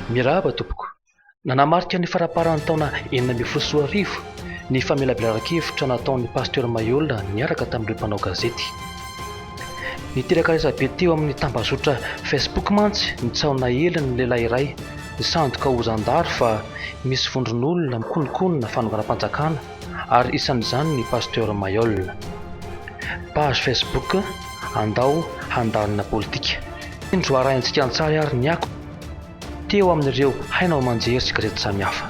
Mirahaba tompoko. Nanamarika ny faraparan'ny taona enina ambin'ny folo sy roa arivo ny famelabelaran-kevitra nataon'ny Pasteur Mayola niaraka tamin'ireo mpanao gazety. Niteraka resabe teo amin'ny tambazotra Facebook mantsy ny tsy ao nahely ny lehilahy iray, Nisandoka ho zandary fa misy vondron'olona mikonokonona fanonganam-panjakana ary isan'izany ny Pasteur Mayol. Page Facebook Andao handalina politika. Indro arahintsika an-tsary ary ny akon'ny teo amin'ireo haino aman-jery sy gazety samihafa.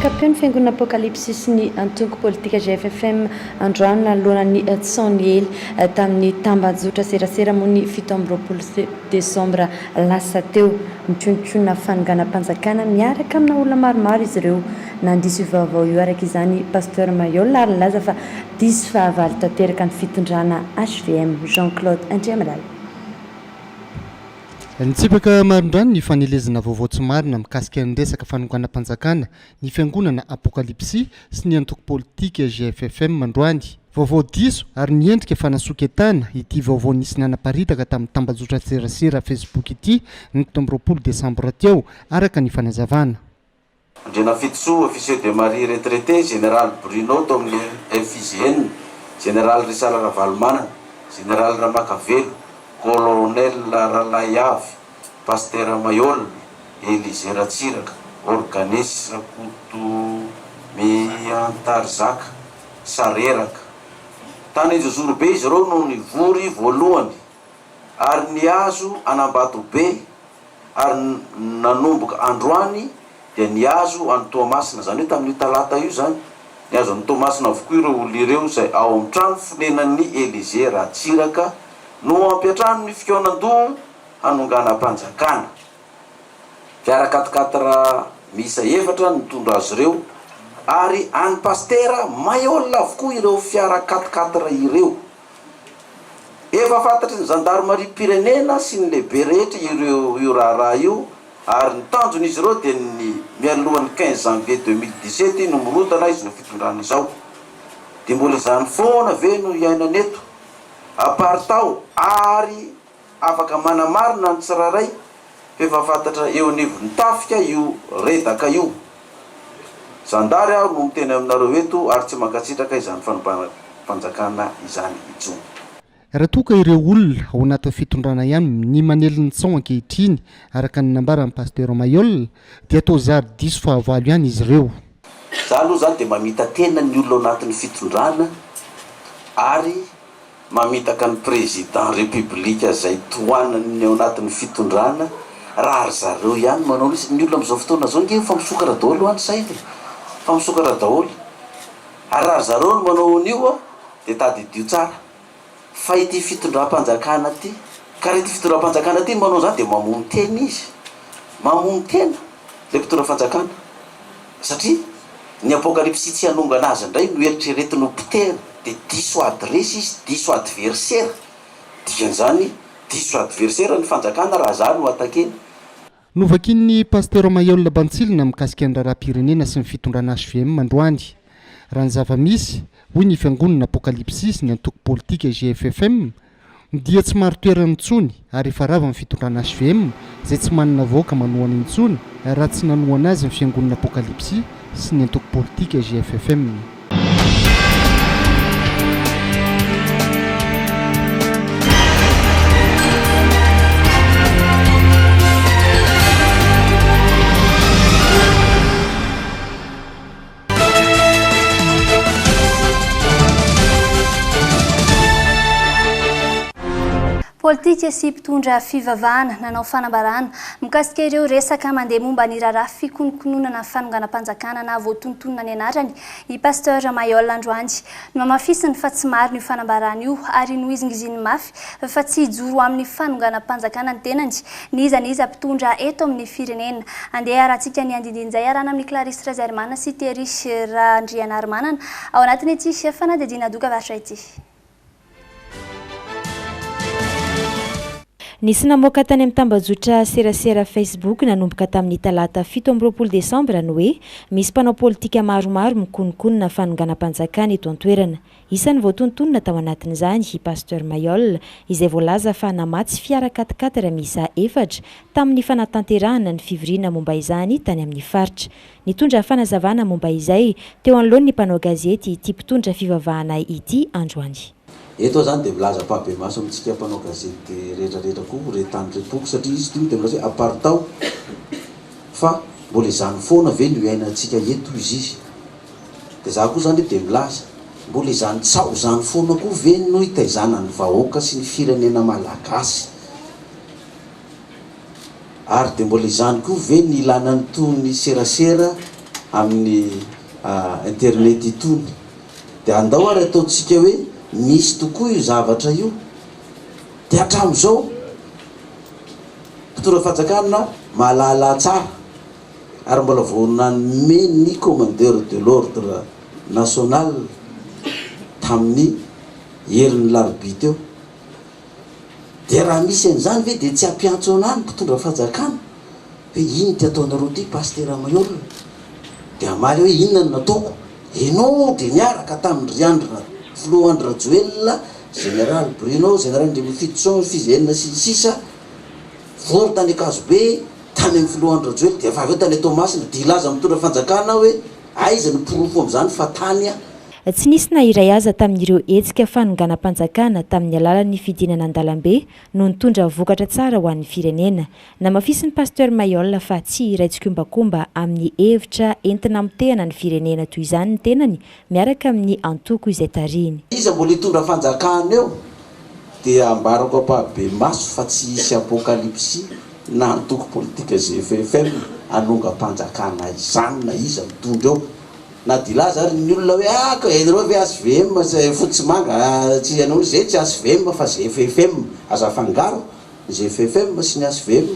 Miankampeo ny fiangonana Apocalypse sy ny antoko politika GFFM androany nanoloana ny tson niely tamin'ny tambajotra serasera moa ny fito amby roapolo desambra lasa teo. Nitionontionona fanonganam-panjakana miaraka amina olona maromaro izy ireo. Nandiso io vaovao io araka izany i Pasteur Mayolle ary nilaza fa diso fahavalo tanteraka ny fitondrana hvm. Jean Claude Andriamalala. Nitsipaka marindrano ny fanelezana vaovao tsy marina mikasika ny resaka fanonganam-panjakana ny fiangonana Apokalipsy sy ny antoko politika GFFM androany. Vaovao diso ary miendrika fanasoketana ity vaovao nisy nanaparitaka tamin'ny tambajotran-tserasera Facebook ity ny fito amby roapolo desambra teo, araka ny fanazavana. Andrianafitosoa Officier de Marine retraité, Général Bruno tao amin'ny FIGN, Général Risala Ravalomanana, Général Ramakavelo, Colonel Ralaiavy, Pasitera Maihol, Elisée Ratsiraka, Organes Rakotomiantarizaka, Sareraka. Tany Anjozorobe izy ireo no nivory voalohany ary nihazo an'Ambatobe ary nanomboka androany dia nihazo an'i Toamasina, izany hoe tamin'io talata io izany, nihazo an'i Toamasina avokoa ireo olona ireo izay ao amin'ny trano fonenan'i Elysée Ratsiraka no ampiantrano ny fikaonan-doha hanonganam-panjakana. Fiara quat-quatre miisa efatra no nitondra azy ireo ary an'i Pasitera Maihol avokoa ireo fiara quat-quatre ireo. Efa fantatry ny zandarimariam-pirenena sy ny lehibe rehetra io raharaha io ary ny tanjon'izy ireo dia ny mialohan'ny quinze janvier deux mille dix sept no mirodana izao fitondrana izao. Dia mbola izany foana ve no iainana eto? Aparitaho ary Afaka manamarina ny tsirairay f'efa fantatra eo anivon'ny tafika io redaka io. Zandary aho no miteny aminareo eto ary tsy mankasitraka izany fanonganam-panjakana izany intsony. Raha toa ka ireo olona ao anatin'ny fitondrana ihany ny manely ny tsaho ankehitriny araka ny nambaran'i Pasteur Mailhol dia toa zary diso fahavalo ihany izy ireo. Za aloha zany dia mamita-tena ny olona ao anatin'ny fitondrana ary Mamitaka ny président république zay tohanany ny ao anatiny fitondrana raha ry zareo ihany manao mihitsy, ny olona amizao fotoana zao nge efa misokatra daoly hoa ny sainy e, efa misokatra daoly, ary raha ry zareo no manao an'io a, de tadidio tsara fa ity fitondram-panjakana ty, ka raha ity fitondram-panjakana ty no manao an'izany de mamono tena izy, mamono tena le mpitondra fanjakana. Satria ny apokalypsy tsy hanongana azy indray no eritreretiny ho potehina dia diso adiresy izy, diso adversera, dikan'izany diso adversera ny fanjakana raha zah no attaquer. Novakian'ny Pasitera Maheola Bantsilina mikasika ny raharaham-pirenena sy ny fitondrana hvm androany. Raha ny zava-misy, hoy ny Fiangonana Apokalypsis, ny antoko politika GFFM, Dia tsy marin-toerana intsony ary efa rava ny fitondrana hvm izay tsy manana vahoaka manohana intsony raha tsy nanohana azy ny fiangonana Apokalipsy sy ny antoko politika GFFM. Politika sy mpitondra fivavahana nanao fanambarana mikasika ireo resaka mandeha momba ny raharaha fikonokononana fanonganam-panjakana na voatonontonona ny anarany i Pasteur Mailhol androany. Nohamafisiny fa tsy marina io fanambarana io ary nohizingiziny mafy fa tsy hijoro amin'ny fanonganam-panjakana ny tenany n'iza n'iza mpitondra eto amin'ny firenena. Andeha iarahantsika ny andindin'izay iarahana amin'i Clarisse Razairimana sy Terry Randrianarimanana ao anatin'ity fanadihadiana doka varotra ity. Nisy namoaka tany amin'ny tambajotra serasera Facebook nanomboka tamin'ny talata fito amby roapolo desambra ny hoe misy mpanao politika maromaro mikonokonona fanonganam-panjakana eto an-toerana. Isan'ny voatontonina tao anatin'izany i Pasteur Mayol, izay voalaza fa namatsy fiara quat-quatre miisa efatra tamin'ny fanatanterahana ny fivoriana momba izany tany amin'ny faritra. Nitondra fanazavana momba izay teo anoloan'ny mpanao gazety ity mpitondra fivavahana ity androany. Eto aho izany dia milaza ampahibemaso amintsika mpanao gazety rehetra rehetra koa ho re tany re tompoko satria izy ity dia milaza hoe apartao fa mbola izany foana ve no iainantsika eto hoy izy. Dia za koa zany dia milaza, mbola izany tsaho izany foana koa ve no hitaizana ny vahoaka sy ny firenena malagasy? Ary dia mbola izany koa ve ny ilana an'itony serasera amin'ny internet itony? Dia andao ary ataontsika hoe misy tokoa io zavatra io, dia hatramin'izao mpitondra fanjakana mahalala tsara ary mbola vao nanome ny Commandeur de l'Ordre National tamin'ny herin'ny larobia teo, dia raha misy an'izany ve dia tsy hampiantso anà ny mpitondra fanjakana hoe ino ity ataonareo ity Pasitera Maheul? dia hamaly hoe inona no nataoko? Ianao dia niaraka tamin-dry Andry Ra, Filoha Andry Rajoelina, Général Bruno, Général Andriamifidy Soa, Fils Enina sy ny sisa, vory tany Ankazobe, tany amin'ny filoha Andry Rajoelina dia efa avy eo tany Toamasina dia hilaza amin'ny mpitondra fanjakana aho hoe aiza ny porofo amin'izany fa tany aho. Tsy nisy na iray aza tamin'ireo hetsika fanonganam-panjakana tamin'ny alalan'ny fidinana an-dalambe no nitondra vokatra tsara ho an'ny firenena. Namafisin'i Pasteur Mailhol fa tsy hiray tsikombakomba amin'ny hevitra entina hamotehana ny firenena toy izany ny tenany miaraka amin'ny antoko izay tarihiny. Iza mbola hitondra fanjakana eo dia ambarako ampahibemaso fa tsy hisy apokalipsy na antoko politika GFFM hanongam-panjakana izany na iza mitondra eo na dia hilaza ary ny olona hoe ah ka ianareo ve HVM sy fotsy sy manga ah tsy ianao izay tsy HVM fa GFFM aza afangaro ny GFFM sy ny HVM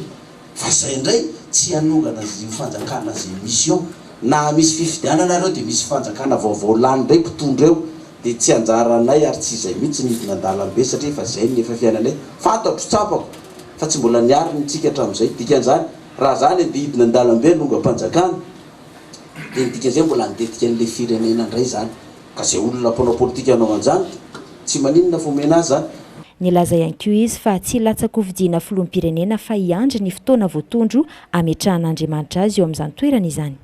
Fa zay ndray tsy hanongana io fanjakana zay misy eo. Naha misy fifidianana reo de misy fanjakana vaovao lany ndray mpitondra eo de tsy anjaranay ary tsy zay mitsy ny hidina andalambe satria efa zay ny efa fiainanay. Fantatro, tsapako, fa tsy mbola niariny ny tsika hatramizay. Dikanzany raha zany ande hidina andalambe hanongam-panjakana de ny dikanzay mbola handetika anle firenena ndray zany. Ka zay olona mpanao politika hanao anzany de tsy maninona fa omena azy zany. Nilaza ihany koa izy fa tsy hilatsa-kofidiana filoham-pirenena fa hiandry ny fotoana voatondro hametrahan'Andriamanitra azy eo amin'izany toerana izany.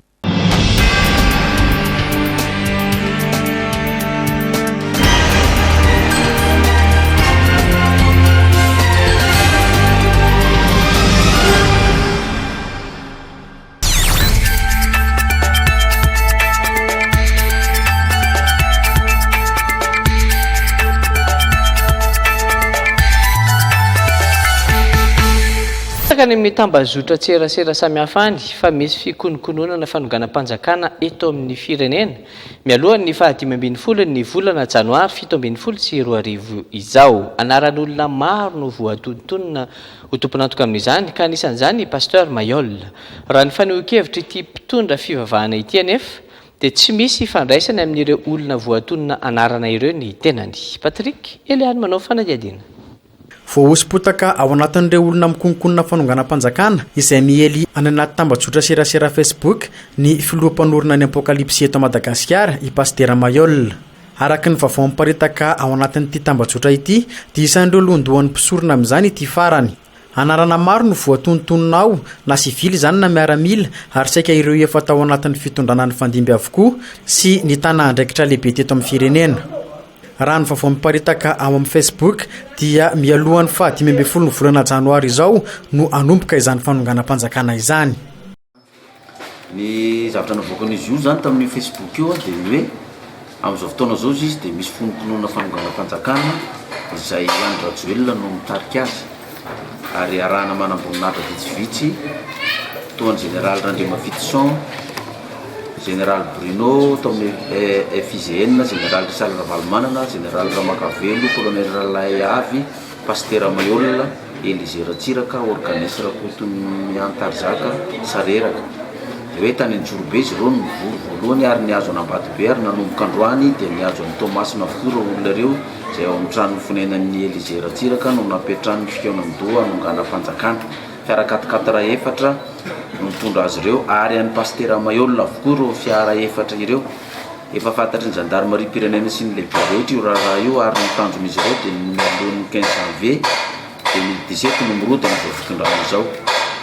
Betsaka any amin'ny tambazotran-tserasera samihafa any fa misy fikonokononana fanonganam-panjakana eto amin'ny firenena mialohan'ny faha dimy ambin'ny folon'ny volana janoary fito ambin'ny folo sy roa arivo izao. Anaran'olona maro no voatontonina. ho tompon'antoka amin'izany ka anisan'izany i Pasteur Mayol. Raha ny fanehoan-kevitr' ity mpitondra fivavahana ity anefa dia tsy misy ifandraisany amin'ireo olona voatonona anarana ireo ny tenany. Patrick, Eliane manao fanadihadiana. Voahoso-potaka ao anatin'ireo olona mikononkonona fanonganam-panjakana izay miely any anaty tambajotra serasera Facebook ny filoha mpanorina ny Apokalipsy eto Madagasikara, i Pasitera Mayol. Araka ny vaovao miparitaka ao anatin'ity tambajotra ity dia isan'ireo lohandohan'ny mpisorona amin'izany ity farany. Anarana maro no voatonontonona ao, na sivily izany na miaramila ary saika ireo efa tao anatin'ny fitondrana nifandimby avokoa sy nitana andraikitra lehibe teto amin'ny firenena. Raha ny vaovao miparitaka ao amin'ny Facebook dia mialohan'ny faha dimy ambin'ny folon'ny volana janoary izao no hanomboka izany fanonganam-panjakana izany. Ny zavatra navoakan'izy io zany tamin'io Facebook io dia ny hoe amin'izao fotoana izao izy dia misy fononkinoana fanonganam-panjakana izay Andry Rajoelina no mitarika azy ary arahana manamboninahitra vitsivitsy toa an'i Jeneraly Randriamafidisoa, Jeneraly Bruno tao amin'ny FIGN, Jeneraly Richard Ravalomanana, Jeneraly Ramakavelo, Kolonely Ralaiavy, Pasitera Maihol. Elisée Ratsiraka, organiste Rakoton'i Antarizaka, sareraka. Dia hoe tany Antsorobe izy ireo no nivory voalohany ary nihazo an'Ambatobe ary nanomboka androany dia nihazo an'i Toamasina avokoa ireo olona ireo izay ao amin'ny tranon'ny fonenan'i Elisée Ratsiraka no nampiantrano ny fikaonandoha hanonganam-panjakana. Fiara quat-quatre efatra no nitondra azy ireo ary an'i Pasitera Maihol avokoa ireo fiara efatra ireo. Efa fantatry ny zandarimariam-pirenena sy ny lehibe rehetra io raharaha io ary ny tanjon'izy ireo dia ny mialohan'ny quinze janvier deux mille dix sept no mirodana izao fitondrana izao.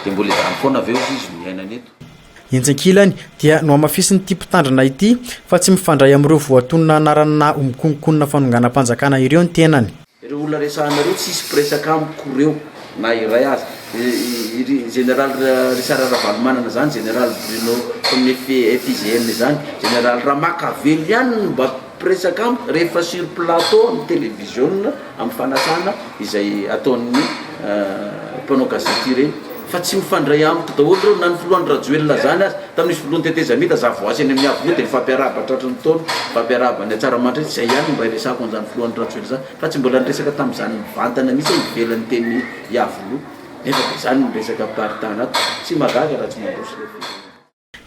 Dia mbola izany foana ve hozy izy no iainana eto? Etsy ankilany dia nohamafisin'ity mpitandrina ity fa tsy mifandray amin'ireo voatonona anaranà ho mikononkonona fanonganam-panjakana ireo ny tenany. Ireo olona resahana ireo tsy hisy mpiresaka amiko reo na iray aza. Iry Général Richard Ravalomanana zany, Général Bruno Tony FIGN zany, Général Ramakavelo ihany no mba mpiresaka amiko rehefa sur plateau amin'ny televiziona amin'ny fanasana izay ataon'ny mpanao gazety ireny. Fa tsy mifandray amiko daholo ireo na ny filoha Andry Rajoelina zany aza tamin'izy filohan'ny tetezamita za voasy eny amin'ny avenue dia nifampiarahaba tratry ny taona nifampiarahaba any Antsaramandry izay ihany no mba hiresahako an'izany filoha Andry Rajoelina izany fa tsy mbola niresaka tamin'izany mivantana mihitsy aho ivelan'ny teny Iavoloha nefa dia izany ny resaka mpiparitahan'ato tsy mahagaga raha tsy mandroso ilay firenena.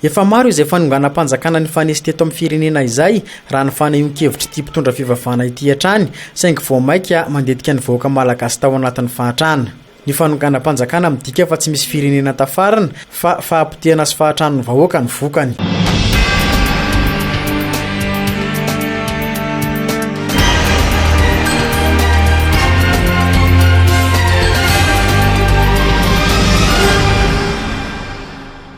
Efa maro izay fanonganam-panjakana nifanesy teto amin'ny firenena izay, raha ny fanehoan-kevitr'ity mpitondra fivavahana ity hatrany, saingy vao maika mandetika ny vahoaka malagasy tao anatin'ny fahatrana. Ny fanonganam-panjakana midika fa tsy misy firenena tafarina, fa fahapotehana sy fahatranon'ny vahoaka no vokany.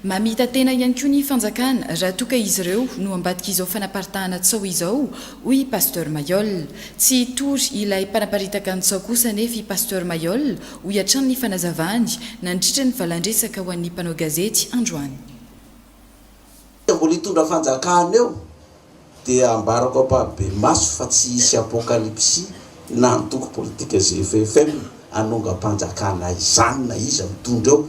Mamita tena ihany koa ny fanjakana raha toa ka izy ireo no ambadik'izao fanaparitahana tsaho izao, hoy i Pasteur Mailhol. Tsy hitory ilay mpanaparitaka ny tsaho kosa anefa i Pasteur Mailhol, hoy hatrany ny fanazavany nandritra ny valandresaka ho an'ny mpanao gazety androany. Mbola hitondra fanjakana eo. dia ambarako ampahibemaso fa tsy hisy apokalipsy na antoko politika GFFM hanongam-panjakana izany na iza mitondra eo.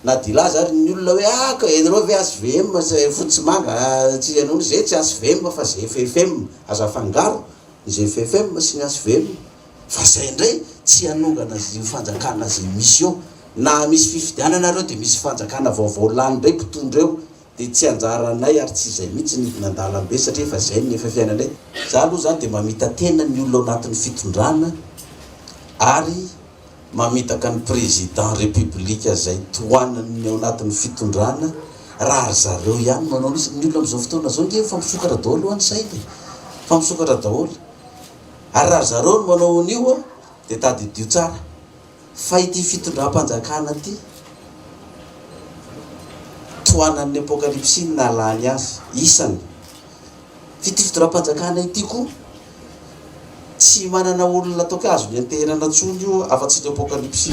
Na dia hilaza ary ny olona hoe ah ka ianareo ve HVM sa fotsy sy manga ah tsy ianao ze tsy HVM fa GFFM aza afangaro ny GFFM sy ny HVM fa zay ndray tsy hanongana io fanjakana ze misy eo. Na misy fifidianana ary eo dia misy fanjakana vaovao lany ndray mpitondra eo Dia tsy anjaranay ary tsy izay mihitsy ny andalambe satria efa izay ny efa fiainanay. Za aloha zany dia mamita tena ny olona ao anatin'ny fitondrana ary mamitaka ny président république zay tohanany ny ao anatin'ny fitondrana raha ry zareo ihany no hanao mihitsy. Ny olona amin'izao fotoana izao nge efa misokatra daholo hoa ny sainy e! Efa misokatra daholo. Ary raha ry zareo no manao an'io dia tadidio tsara. Fa ity fitondram-panjakana ity, tohanan'ny Apokalypsy ny nahalany azy, isany. Fa ity fitondram-panjakana ity koa, tsy manana olona ataoko hoe azony anteherana intsony io afa-tsy ny Apokalypsy.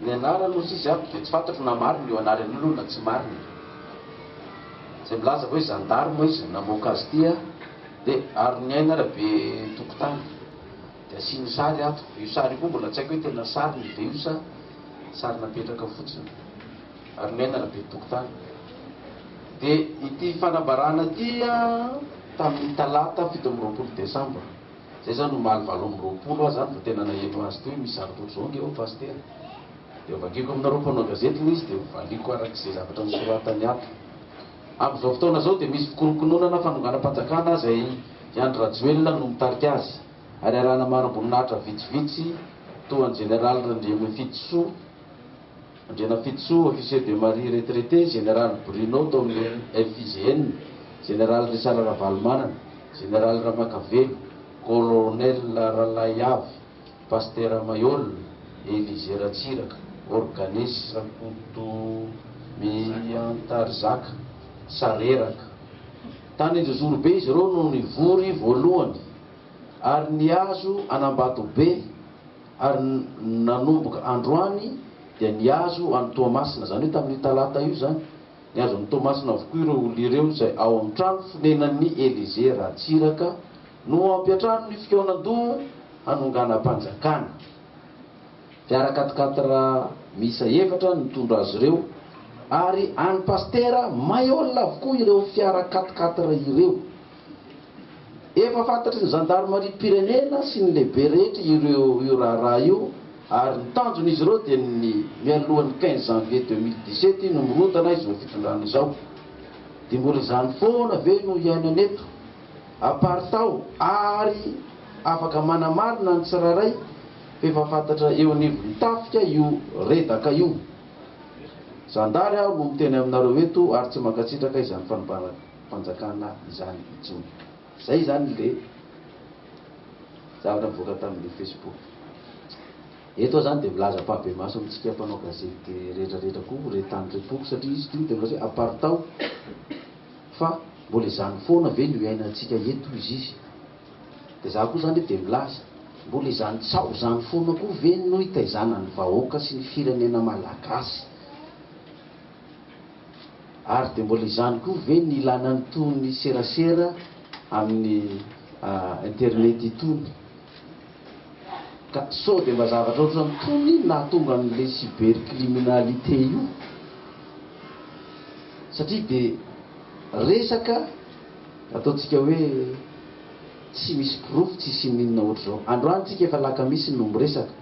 Ny anarany ozy izy aby de tsy fantatro na marina io anarany io lo na tsy marina e! Zay milaza hoe zandarme izy namoaka azy ty a! de Aroniaina Rabe Tokotany de asiany sary ato, io sary io koa mbola tsy haiko hoe tena sariny ve io sa sary napetraka fotsiny, Aroniaina Rabe Tokotany. De ity fanambarana ty a tamin'ny talata fito amby roapolo desambra. Zay zany omaly valo amby roapolo aho zany vao tena naheno azy teo hoe misy zary bojongy ao Pasitera. Dia vakiko aminareo mpanao gazety hoy izy dia hovaliako araka izay zavatra nosoratany ato. Amin'izao fotoana izao dia misy fikorokononana fanonganam-panjakana izay i Andry Rajoelina no mitarika azy ary arahana mari-boninahitra vitsivitsy toa an'i Jeneraly Randriamifidisoa, Andrianafitosoa Officier de Marine retraité, Général Bruno tao amin'ny FIGN, Général Richard Ravalomanana, Général Ramakavelo, Colonel Ralaiavo, Pasitera Maihol, Elisée Ratsiraka, Organiste Rakoto Miantarizaka, Sareraka. Tany Anjozorobe izy ireo no nivory voalohany ary nihazo an'Ambatobe. Ary ny nanomboka androany dia nihazo an'i Toamasina, izany hoe tamin'io talata io izany, nihazo an'i Toamasina avokoa ireo olona ireo izay ao amin'ny trano fonenan'i Elysée Ratsiraka no ampiantrano ny fikaonan-doha hanonganam-panjakana. Fiara quat-quatre miisa efatra no nitondra azy ireo ary an'i Pasitera Maihol avokoa ireo fiara quat-quatre ireo. Efa fantatry ny zandarimariam-pirenena sy ny lehibe rehetra ireo io raharaha io ary ny tanjon'izy ireo dia ny mialohan'ny quinze janvier deux mille dix-sept iny mirodana izao fitondrana izao. Dia mbola izany foana ve no iainana eto? Aparitao ary afaka manamarina ny tsirairay fa efa fantatra eo anivon'ny tafika io redaka io. Zandary aho no miteny aminareo eto ary tsy mankasitraka izany fanibanana. fanjakana izany intsony. Izay izany ilay zavatra nivoaka tamin'ilay Facebook. Eto aho izany dia milaza ampahibemaso amintsika mpanao gazety rehetrarehetra koa re tany re tompoko satria izy ity dia milaza hoe apartao fa mbola izany foana ve no iainantsika eto izy izy dia izaho koa izany dia milaza mbola izany tsaho izany foana koa ve no itaizana ny vahoaka sy ny firenena malagasy Ary dia mbola izany koa ve ny ilana an'itony serasera amin'ny internet itony? Ka sao dia mba zavatra ohatran'itony no nahatonga an'ilay cybercriminalité io? Satria dia resaka ataontsika hoe tsy misy porofo tsy hisian'inona ohatr'izao. Androany tsika efa alakamisy no miresaka.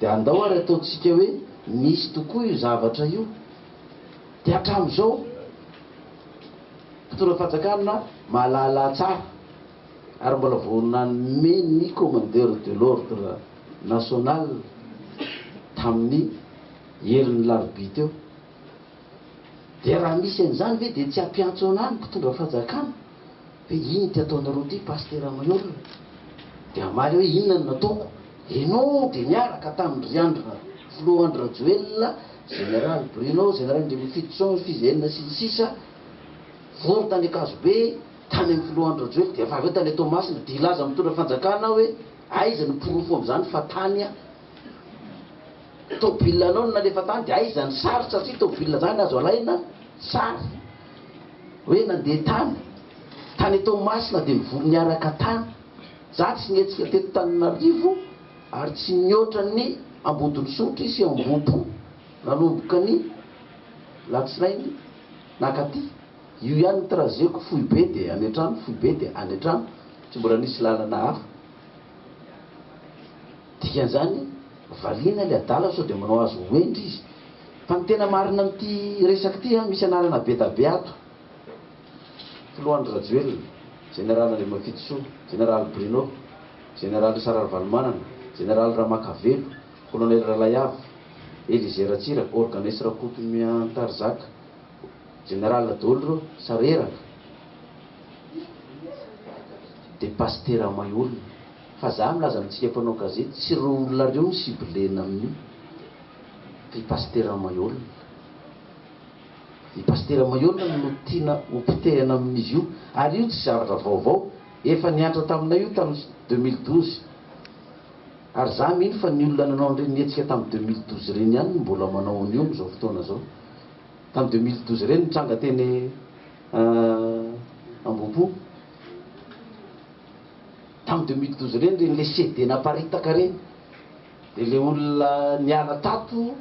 Dia andao ary ataontsika hoe nisy tokoa io zavatra io, dia hatramin'izao mpitondra fanjakana mahalala tsara ary mbola vao nanome ny commandeur de l'ordre national tamin'ny herin'ny larobia teo, dia raha misy an'izany ve dia tsy hampiantso anà ny mpitondra fanjakana? Dia iny ity ataonareo ity Pasitera amin'ny olona dia hamaly hoe inona no nataoko, enao dia niaraka tamin-dry ry Andry, Filoha Andry Rajoelina, Général Bruno, Général Andriamifidisoa, Fiz Enina sy ny sisa, vory tany Ankazobe, tany amin'ny Filoha Andry Rajoelina, dia efa avy eo tany Toamasina, dia hilaza amin'ny mpitondra fanjakana aho hoe aiza ny porofo amin'izany fa tany aho, tomobilanao no nalefa tany, dia aiza ny sary satria tomobilina izany azo alaina sary. Hoe nandeha tany, tany Toamasina dia nivory niaraka tany. Za tsy nihetsika teto Tananarivo ary tsy nihoatra ny Ambodin'Isotry sy Ambohipo nanomboka ny latsinainy nakaty. Io ihany ny trajet-ko, foibe dia any an-trano, foibe dia any an-trano, tsy mbola nisy lalana hafa. Dikan'izany, valiana ilay adala sao dia manao azy ho hendry izy. Fa ny tena marina amin'ity resaka ity an, misy anarana bedabe ato, Filoha Andry Rajoelina, Jeneraly Andriamafitisoa, Jeneraly Bruno, Jeneraly Richard Ravalomanana, Jeneraly Ramakavelo, Kolonely Ralaiavo, Elisée Ratsiraka, Organes Rakoto Miantarizaka, Jeneraly daholo ireo, sareraka, dia pasitera mahay olona. Fa za milaza amintsika mpanao gazety tsy ireo olona ireo no ciblena amin'io fa i Pasitera Maihôlina. I Pasitera Maihôlina no tiana ho potehana amin'izy io ary io tsy zavatra vaovao, efa niantra taminay io tamin'ny deux mille douze ary za mino fa ny olona nanao an'ireny hetsika tamin'ny deux mille douze ireny ihany no mbola manao an'io amin'izao fotoana izao. Tamin'ny deux mille douze ireny nitranga teny Ambohipo. Tam deux mille douze ireny ireny le CD naparitaka ireny de le olona niala tato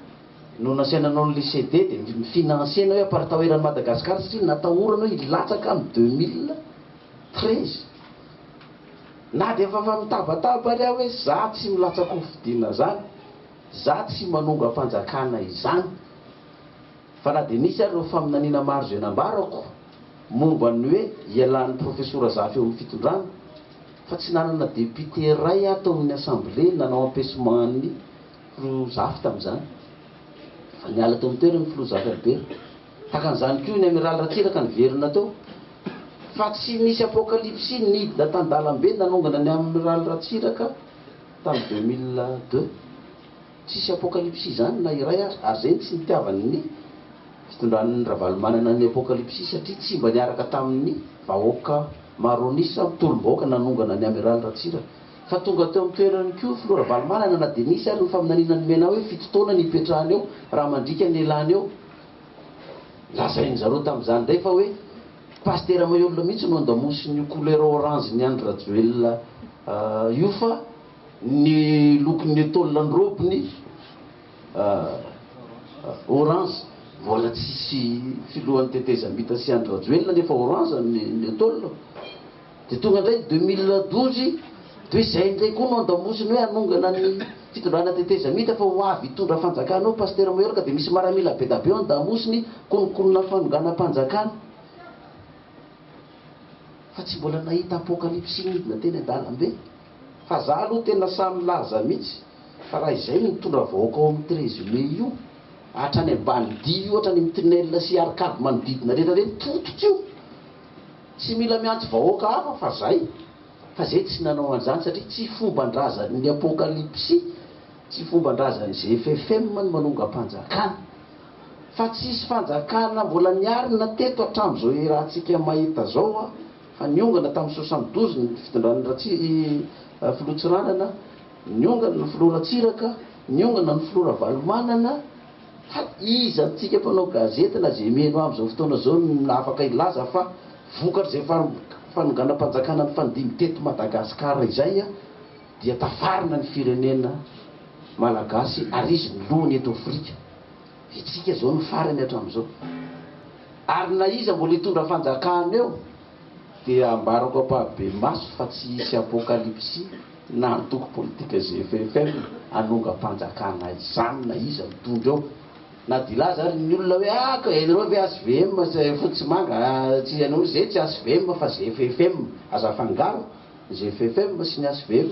no nasaina nanao anle CD de mi financer anao hoe aparitao eran'i Madagascar satria natahorana hoe hilatsaka am deux mille treize na dia efa efa mitabataba ary aho hoe za tsy milatsaka hofidiana zany za tsy manongam-panjakana izany Fa na dia nisy ary ireo faminaniana maro izay nambarako momba ny hoe ialan'ny Profesora Zafy eo amin'ny fitondrana, fa tsy nanana depiote iray aho tao amin'ny Assemblée nanao empêchement an'ny Filoha Zafy tamin'izany. Efa niala teo amin'ny toerany ny Filoha Zafy Albert. Tahaka an'izany koa ny Amiraly Ratsiraka niverina teo. Fa tsy nisy apocalypse nidina tan-dalambe nanongana ny Amiraly Ratsiraka tamin'ny deux mille deux. Tsisy apokalipsy izany na iray aza ary izay no tsy nitiavany ny fitondran'i Ravalomanana ny apokalipsy satria tsy mba niaraka tamin'ny vahoaka maronisa mitolom-bahoaka nanongana ny Amiraly Ratsiraka fa tonga teo amin'ny toerany koa Filoha Ravalomanana na dia nisy ary ny faminaniana nomena hoe fito taona ny hipetrahany eo raha mandriaka ny lany eo lazain'ny zareo tamin'izany indray fa hoe Pasitera Maheolona mihitsy no andamosin'io couleur orange-n'i Andry Rajoelina io fa Ny lokon'ny etoile ny robiny orange mbola tsy hisy filohan'ny tetezamita sy Andry Rajoelina nefa orange ny etoile dia tonga indray ny deux mille douze toy izay indray koa no andamosiny hoe hanongana ny fitondrana tetezamita fa ho avy hitondra fanjakana ao Pasitera Maheroka dia misy maramila bedabe eo andamosiny kononkonona fanonganam-panjakana fa tsy mbola nahita apokalipsy nidina teny an-dalambe. Fa za aloha tena sahy milaza mitsy fa raha izay no mitondra vahoaka ao amin'ny treize mai io hatrany ambany dihy io hatrany amin'ny tunnel sy arcade manodidina rehetra reny potika io tsy mila miantso vahoaka hafa fa zay fa zay tsy nanao an'izany satria tsy fomban-drazan'ny apokalipsy tsy fomban-drazan'ny zfm ny manongam-panjakana fa tsisy fanjakana mbola niarina teto hatramin'izao iarahantsika mahita zao a fa niongana tamin'ny soixante douze ny fitondran'ny Ratsi i filoha Tsiranana, niongana ny filoha Ratsiraka, niongana ny filoha Ravalomanana, fa iza amintsika mpanao gazety na izay mihaino ahy amin'izao fotoana izao no afaka hilaza fa vokatr'izay fanonganam-panjakana nifandimby teto Madagascar izay dia tafarina ny firenena Malagasy ary izy no lohany eto Afrika? Vitsika zao no farany hatramizao. Ary na iza mbola hitondra fanjakana eo dia ambarako ampahabe-maso fa tsy hisy apokalipsy na antoko politika GFFM hanongam-panjakana izany na iza mitondra eo. Na dia hilaza ary ny olona hoe ah ka ianareo ve HVM sy fotsy sy manga tsy ianao zay tsy HVM fa GFFM. Aza afangaro ny GFFM sy ny HVM.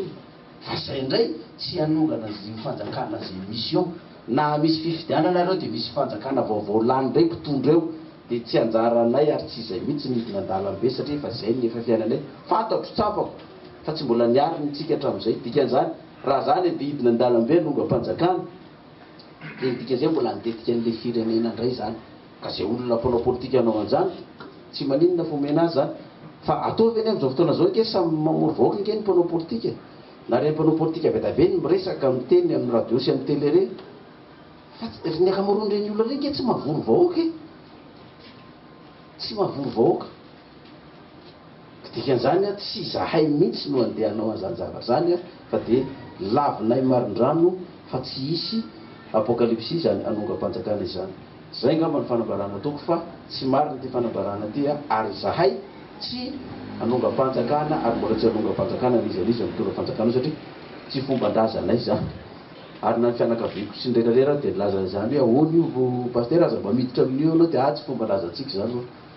Fa zay indray tsy hanongana anzio fanjakana zay misy eo na misy fifidianana ary eo dia misy fanjakana vaovao lany indray mpitondra eo dia tsy anjaranay ary tsy izay mitsy ny hidina andalambe satria efa zay ny efa fiainanay fantatro tsapako fa tsy mbola niary ny tsika hatramizay dikanzany raha zany dia hidina andalambe hanongam-panjakana dia ny dikanzay mbola handetika anle firenena indray zany Ka izay olona mpanao politika hanao an'izany, tsy maninona fa omena azy izany. Fa atao ve ny amin'izao fotoana izao ange samy mamory vahoaka ange ny mpanao politika? Na ireny mpanao politika avy eto avy eny miresaka miteny amin'ny radio sy amin'ny tele ireny? Fa tsy, ny ankamaroan'ireny olona ireny ange tsy mahavory vahoaka e! Tsy mahavory vahoaka. Ka dikan'izany an, tsy izahay mihitsy no andeha hanao an'izany zavatra izany an, fa dia lavinay marindrano fa tsy hisy apokalipsy izany hanongam-panjakana izany. Izay angamba no fanambarana ataoko fa tsy marina ity fanambarana ity an, ary izahay tsy hanongam-panjakana ary mbola tsy hanongam-panjakana n'iza n'iza mitondra fanjakana eo satria tsy fomban-drazanay izany. Ary na ny fianakaviako sy ny rehetra rehetra ary dia nilaza an'izany hoe ahoana io Pasitera, aza mba miditra amin'io ianao dia ahy tsy fomban-drazantsika izany hono.